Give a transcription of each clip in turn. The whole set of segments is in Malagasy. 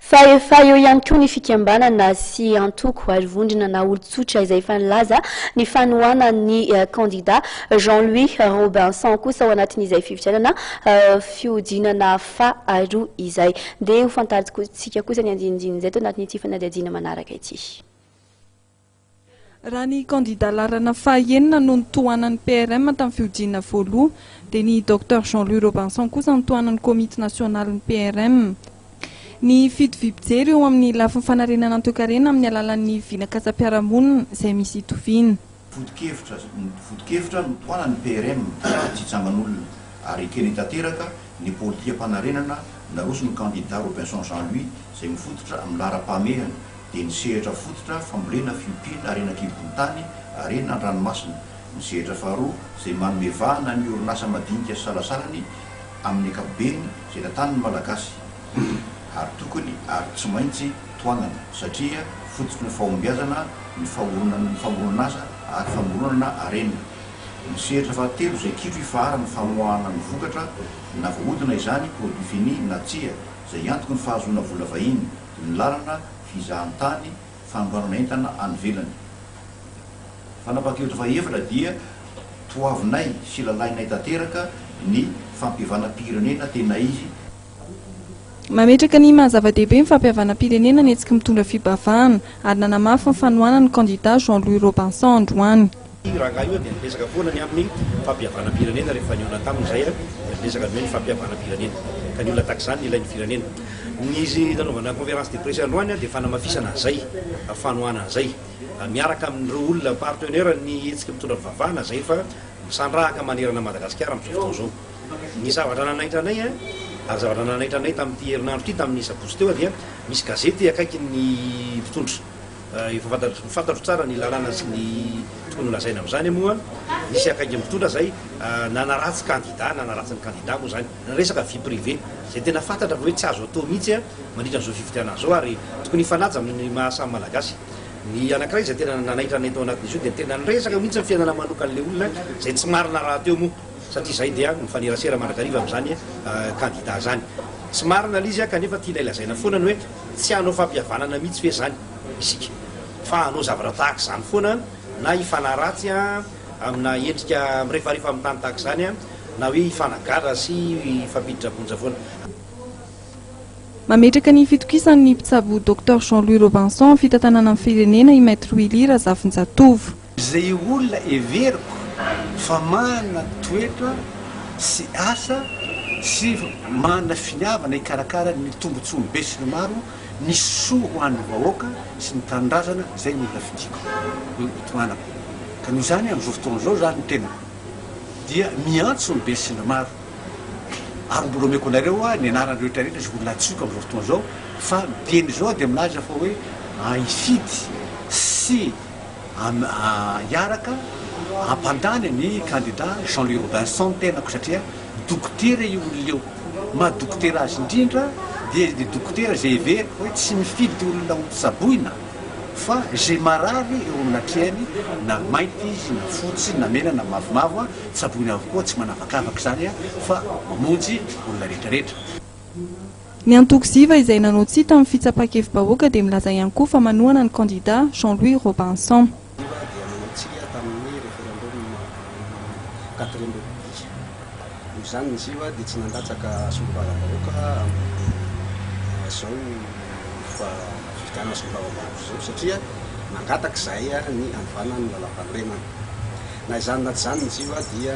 Fa efa eo ihany koa ny fikambanana sy antoko ary vondrona na olon-tsotra izay efa nilaza ny fanohanan'ny kandida Jean Louis Robinson kosa ao anatin'izay fifidianana fihodinana faharoa izay. Dia hofantarintsika kosa ny andinindin'izay eto anatin'ity fanadihadiana manaraka ity. Raha ny kandida laharana fahaenina no notohanan'ny PRM tamin'ny fihodinana voaloha, dia ny Docteur Jean Louis Robinson kosa no tohanan'ny komity nasionalin'ny PRM. Ny fito vy mpijery eo amin'ny lafiny fanarenana ny toekarena amin'ny alalan'ny vinakasam-piarahamonina izay misy itoviana. Foto-kevitra, Foto-kevitra notohanan'ny PRM fa tsy hitsangan'olona ary ekeny tanteraka ny politikam-panarenana naroson'ny kandida Robinson Jean Louis izay mifototra amin'ny laharam-pahamehana, dia ny sehatra fototra fambolena fiompiana harena an-kibon'ny tany, harena an-dranomasina, ny sehatra faharoa izay manome vahana ny orinasa madinika sy salasalany amin'ny ankapobeny izay tantanin'ny Malagasy ary tokony ary tsy maintsy tohanana satria fototry ny fahombiazana ny fahoronan'ny famoronan'asa ary famoronana harena, ny sehatra fahatelo izay kitro ifaharan'ny famoahana ny vokatra na voahodina izany, produit fini, na tsia, izay antoky ny fahazoana vola vahiny. ny lalana, fizahantany, fandoavana entana any ivelany. Fanapahan-kevitra fahaefatra dia toavinay sy lalainay tanteraka ny fampihavanam-pirenena tena izy. Mametraka ny maha zava-dehibe ny fampihavanam-pirenena ny hetsiky mitondra fibavahana, ary nanamafy ny fanohanany ny kandida Jean Louis Robinson androany. Io rangahy io dia niresaka foana ny amin'ny fampihavanam-pirenena rehefa nihaona taminy izahay dia niresaka ny hoe ny fampihavanam-pirenena ka ny olona tahak'izany ny ilain'ny firenena. Ny nanaovana conférence de presse androany dia fanamafisana an'izay, fanohana an'izay miaraka amin'ireo olona partenaires ny hetsika mitondra fivavahana izay efa misandrahaka manerana an'i Madagasikara amin'izao fotoana izao. Ny zavatra nanaitra anay ary zavatra nanaitra anay tamin'ity herinandro ity tamin'ny sabotsy teo dia misy gazety akaikin'ny mpitondra. Efa fantatro fantatro tsara ny lalàna sy ny tokony holazaina amin'izany moa. Nisy akaiky mpitondra izay nanaratsy kandida, nanaratsy ny kandida moa izany. Resaka vie privée izay tena fantatra fa hoe tsy azo atao mihitsy mandritra an'izao fifidianana izao ary tokony hifanaja amin'ny maha samy Malagasy. Ny anankiray izay tena nanaitra anay tao anatin'izy io dia tena niresaka mihitsy ny fiainana manokan'ilay olona izay tsy marina rahateo moa satria izahay dia mifanerasera mandrakariva amin'izany kandida izany. Tsy marina ilay izy kanefa tianay lazaina foana ny hoe. Tsy hanao fampihavanana mihitsy ve izany isika fa hanao zavatra tahaka izany foana an, na hifanahy ratsy amina endrika mirefarefa amin'ny tany tahaka izany an, na hoe hifanagadra sy hifampiditra am-ponja foana? Mametraka ny fitokisan'ny mpitsabo Docteur Jean Louis Robinson fitantanana ny firenena i Maître Willy Razafinjatovo. Izay olona heveriko fa manana toetra sy asa sy manana finiavana hikarakara ny tombontsoan'ny be sy ny maro, ny soa ho an'ny vahoaka sy ny tanindrazana izay no olona fidiko, no itohanako. Ka noho izany amin'izao fotoana izao izany ny tenako dia miantso ny be sy ny maro ary mbola omeko anareo aho ny anaran'ny rehetra rehetra izay olona antsoiko amin'izao fotoana izao fa miteny izao dia milaza fa hoe hifidy sy hiaraka hampandany ny kandida Jean Louis Robinson ny tenako satria dokotera io olona io, ny maha dokotera azy indrindra dia ilay dokotera izay heveriko hoe tsy mifidy olona ho tsaboina fa izay marary eo amin'ny atrehany na mainty izy na fotsy na mena na mavomavo tsaboina avokoa tsy manavakavaka izany fa mamonjy olona rehetrarehetra. Ny antoko ziva izay nanao tsia tamin'ny fitsapan-kevi-bahoaka dia milaza ihany koa fa manohana ny kandida Jean Louis Robinson. Ziva dia nanao tsia tamin'ny referendum telo amby roapolo mey. Noho izany ny ziva dia tsy nandatsaka solombavambahoaka amin'izao fifidianana solombavambahoaka izao satria nangataka izahay ny hanovana ny lalàmpanorenana. Na izany na tsy izany ny ziva dia.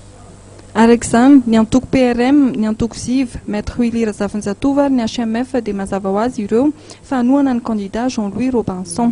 Araka izany, ny antoko PRM, ny antoko ziv, Maître Willy Razafinjatovo ary ny HMF dia mazava ho azy ireo fa hanohana ny kandida Jean Louis Robinson.